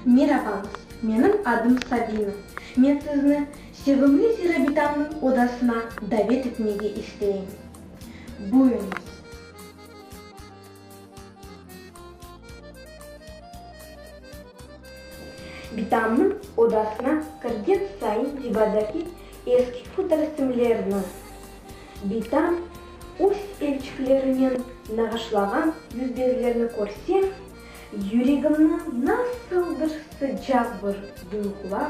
Meraba, menim adım Sabina. Men sizni sevimli Zirabitamnıñ odasına davet etmege isteyim. Buyurıñız. Bitamnıñ odasına kirgen sayın divardaki eski fotoresimlerni, Bitam öz elçiklerinen nağışlağan yüzbezlerni körseñ, yüregimni nasıldır sıcaq bir duyğular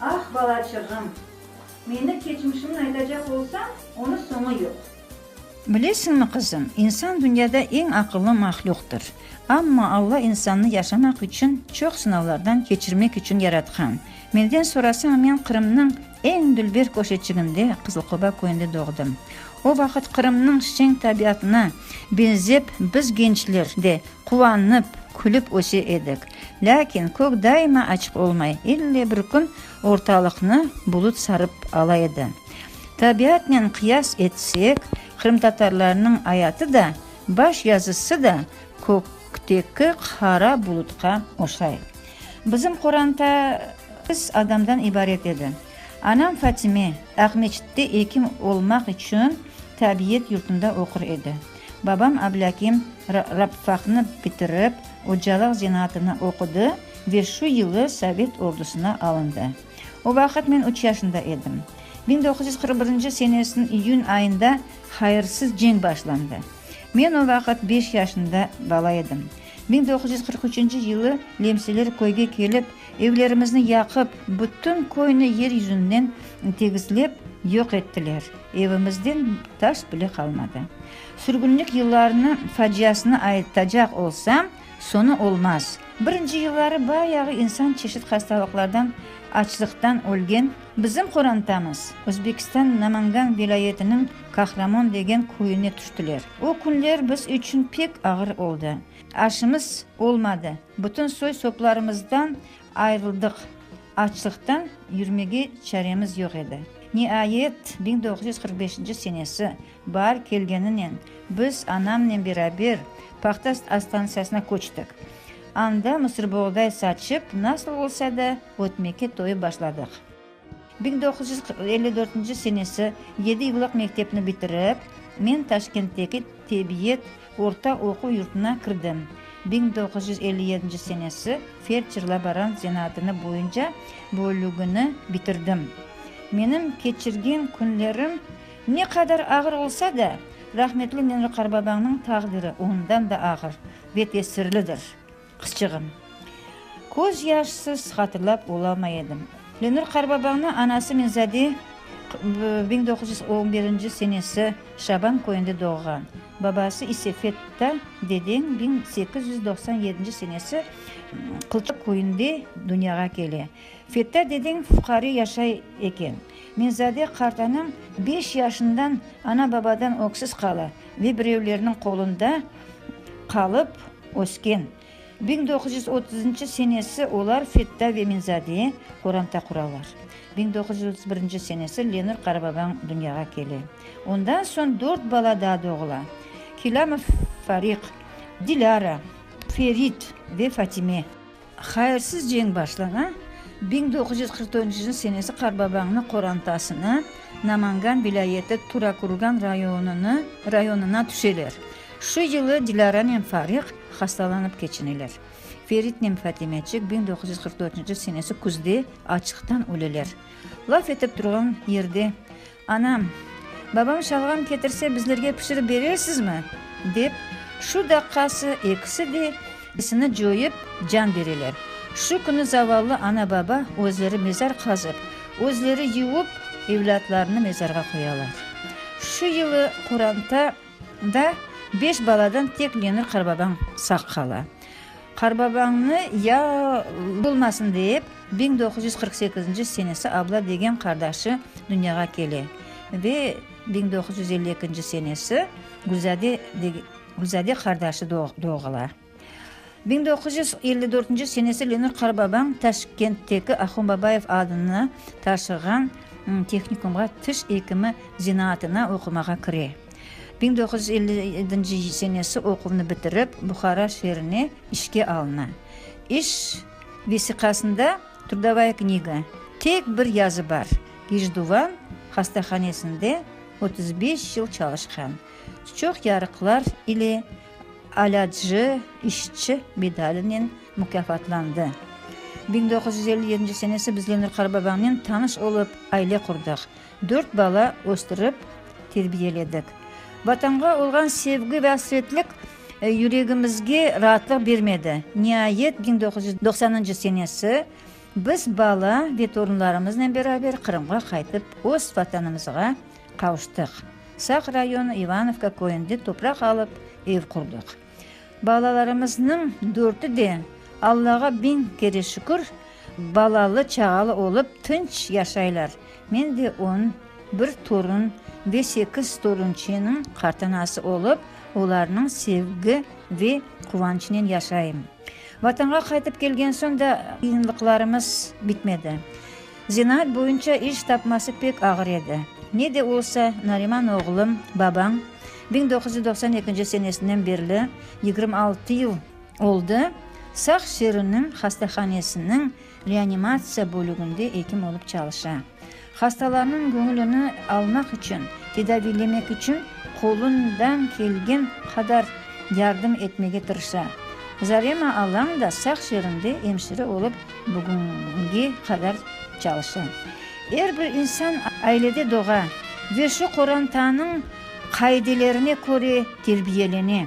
Ah, balaçığım! Meni keçmişimin aytacaq olsañ, onı soñu yoq. Bilesiñmi, qızım, insan dünyada eñ aqıllı mahlüqtır. Amma Alla insannı yaşamaq içün, çoq sınavlardan keçirmek içün yaratqan. Menden sorasañ, men Qırımnıñ eñ dülber köşeçiginde, Qızılqoba köyünde doğdım. O vaqıt Qırımnıñ şeñ tabiatına benzep biz gençler de Quvanıp, külip öse edik. Lâkin kök daima açıq olmay, elle bir kün ortalıqnı bulut sarıp ala edi. Tabiatnen qıyas etsek, qırımtatarlarnıñ ayatı da, baş yazısı da kökteki qara bulutqa oşay. Bizim qoranta sekiz adamdan ibaret edi. Anam Fatime Aqmescitte ekim olmaq içün tabiet yurtunda oqur edi. Babam Ablâkim rabfaqnı bitirip, ocalıq zenaatını oqudı ve şu yılı sovet ordusına alındı. O vaqıt men üç yaşında edim. Biñ doquz yüz qırq birinci senesiniñ iyün ayında hayırsız cenk başlandı. Men o vaqıt beş yaşında bala edim. Biñ doquz yüz qırq üçünci yılı lemseler köyge kelip, Evlerimizni yaqıp, bütün köyni yer yüzünden tegizlep, yoq ettiler, evimizden taş bile qalmadı. Sürgünlik yıllarını faciasını aytacaq olsam, soñu olmaz. Birinci yılları bayağı insan çeşit hastalıqlardan, açlıqtan ölgen. Bizim qorantamız Özbekistan Namangan vilâyetiniñ Kahramon degen köyüne tüştiler. O künler biz içün pek ağır oldı. Aşımız olmadı. Bütün soy-soplarımızdan ayırıldıq, açlıqtan yürmege çaremiz yoq edi. Niayet, biñ doğuz yüz qırq beşinci senesi baar kelgeninen, biz anamnen beraber paxta stansiyasına köçtik. Anda mısırboğday saçıp, nasıl olsa da ötmeke toyıp başladıq. Biñ doquz yüz qırq elli dörtünci senesi yedi yıllıq mektepni bitirip, men Taşkentteki Tebiyet orta oquv yurtuna kirdim. Biñ doquz yüz elli yedinci senesi feldşer-laborant zenaatını boyunca bölügini bitirdim. Menim keçirgen künlerim ne qadar ağır olsa da, rahmetli Nemli qarbabañnıñ taqdiri ondan da ağır ve tesirlidir. Qızçığım. Köz yaşsız hatırlap olamay edim. Lenur qarbabañnı anası Minzade biñ doquz yüz on birinci senesi Şaban köyünde doğğan, babası ise Fetta dedeñ biñ sekiz yüz doqsan yedinci senesi Qılçaq köyünde dünyağa kele. Fetta dedeñ fuqare yaşay eken. Minzade qartanıñ beş yaşından ana-babadan öksüz qala ve birevlerniñ qolunda qalıp, Ösken. Biñ doquz yüz otuzınçı senesi olar Fetta ve Minzadeye qoranta quralar. Biñ doquz yüz otuz birinci senesi Lenur Qarababañ dünyağa kele. Ondan soñ dört bala daa doğula, Kilâmov Fariq, Dilâra, Ferit ve Fatime. Hayırsız cenk başlana, biñ doquz yüz qırq dörtünci yıl senesi Qarbabañnı qorantasına, Namangan vilâyeti Turakurgan rayonını rayonına tüşeler. Şu yılı Dilâranen Fariq hastalanıp keçineler. Feritnen Fatimeçik biñ doquz yüz qırq dörtünci yıl senesi küzde açlıqtan öleler. Laf etip turğan yerde Anam, Babañ şalğam ketirse, bizlerge pişirip berersizmi? dep, şu daqqası ekisi de esini coyıp, can bereler. Şu künü zavallı ana-baba özleri mezar qazıp, özleri yuvup, evlâtlarını mezarğa qoyalar. Şu yılı Quranta da beş baladan tek Lenur qarbabañ sağ qala. Qarbabañnı ya olmasın dep, biñ doquz yüz qırq sekizinci senesi Abla degen qardaşı dünyağa kele ve biñ doquz yüz elli ekinci senesi Gülzade Gülzade qardaşı doğula. Biñ doquz yüz elli dörtünci senesi Lenur Qarbabañ Taşkentteki Ahun Babayev adına taşığan tehnikumğa tiş ekimi zenaatına oqumağa kire. Biñ doquz yüz elli yedinci senesi oquvnı bitirip, Buhara şeerine işke alına. İş vesiqasında Trudovaya kniga, tek bir yazı bar, Gijduvan hastahanesinde otuz beş yıl çalışqan, çoq yarıqlar ile Alâtcı işçi medalinen mukâfatlandı. Biñ doquz yüz elli yedinci senesi biz Lenur Qarababamnen tanış olıp, aile qurdıq. Dört bala östürip, terbiyeledik. Vatanğa olğan sevgi ve asretlik yüregimizge raatlıq bermedi. Niayet, biñ doquz yüz doqsanıncı senesi biz bala ve torunlarımıznen beraber Qırımğa qaytıp, öz Vatanımızğa qavuştıq. Saq rayonı İvanovka köyünde topraq alıp, ev qurdıq. Balalarımıznıñ dörtü de, Allağa biñ kere şükür, balalı-çağalı olıp, tınç yaşaylar. Men de on bir torun ve sekiz torunçeniñ qartanası olıp, olarnıñ sevgi ve quvançınen yaşayım. Vatanğa qaytıp kelgen soñ da qıyınlıqlarımız bitmedi. Zenaat boyunca iş tapması pek ağır edi. Ne de olsa, Nariman oğlum, babañ biñ doquz yüz doqsan ekinci senesinen berli yigirmi altı yıl oldı, Saq şeeriniñ hastahanesiniñ reanimatsiya bölüginde ekim olıp çalışa. Hastalarnıñ göñülini almaq içün, tedaviylemek içün qolundan kelgen qadar yardım etmege tırışa. Zarema alañ da Saq şeerinde emşire olıp Bugünge qadar çalışa. Er bir insan ailede doğa ve şu qorantanıñ qaidelerine köre terbiyelene.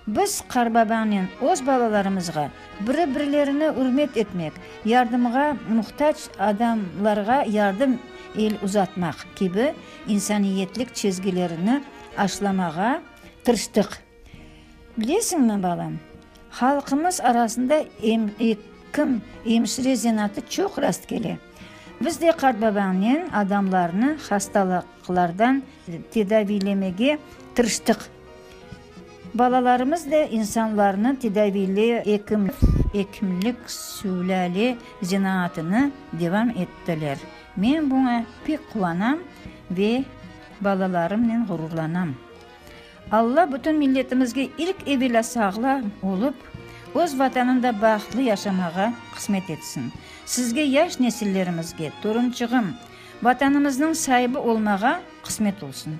Biz qarbabanen öz balalarımızğa biri-birlerini ürmet etmek, yardımğa muhtac adamlarğa yardım el uzatmaq kibi insaniyetlik çezgilerini aşlamağa tırıştıq. Bilesiñmi, balam, halqımız arasında ekim, emşire zenaatı çoq rast kele. Biz de qartbabañnen adamlarnı hastalıqlardan tedaviylemege tırıştıq. Balalarımız da insanlarnı tedaviyley ekim, ekimlik, sülâle zenaatını devam ettiler. Men buña pek quvanam ve balalarımnen ğururlanam. Alla bütün milletimizge ilk evelâ sağla olıp, öz Vatanında bahtlı yaşamağa qısmet etsin. Sizge, yaş nesillerimizge, torunçığım, Vatanımıznıñ saibi olmağa qısmet olsun.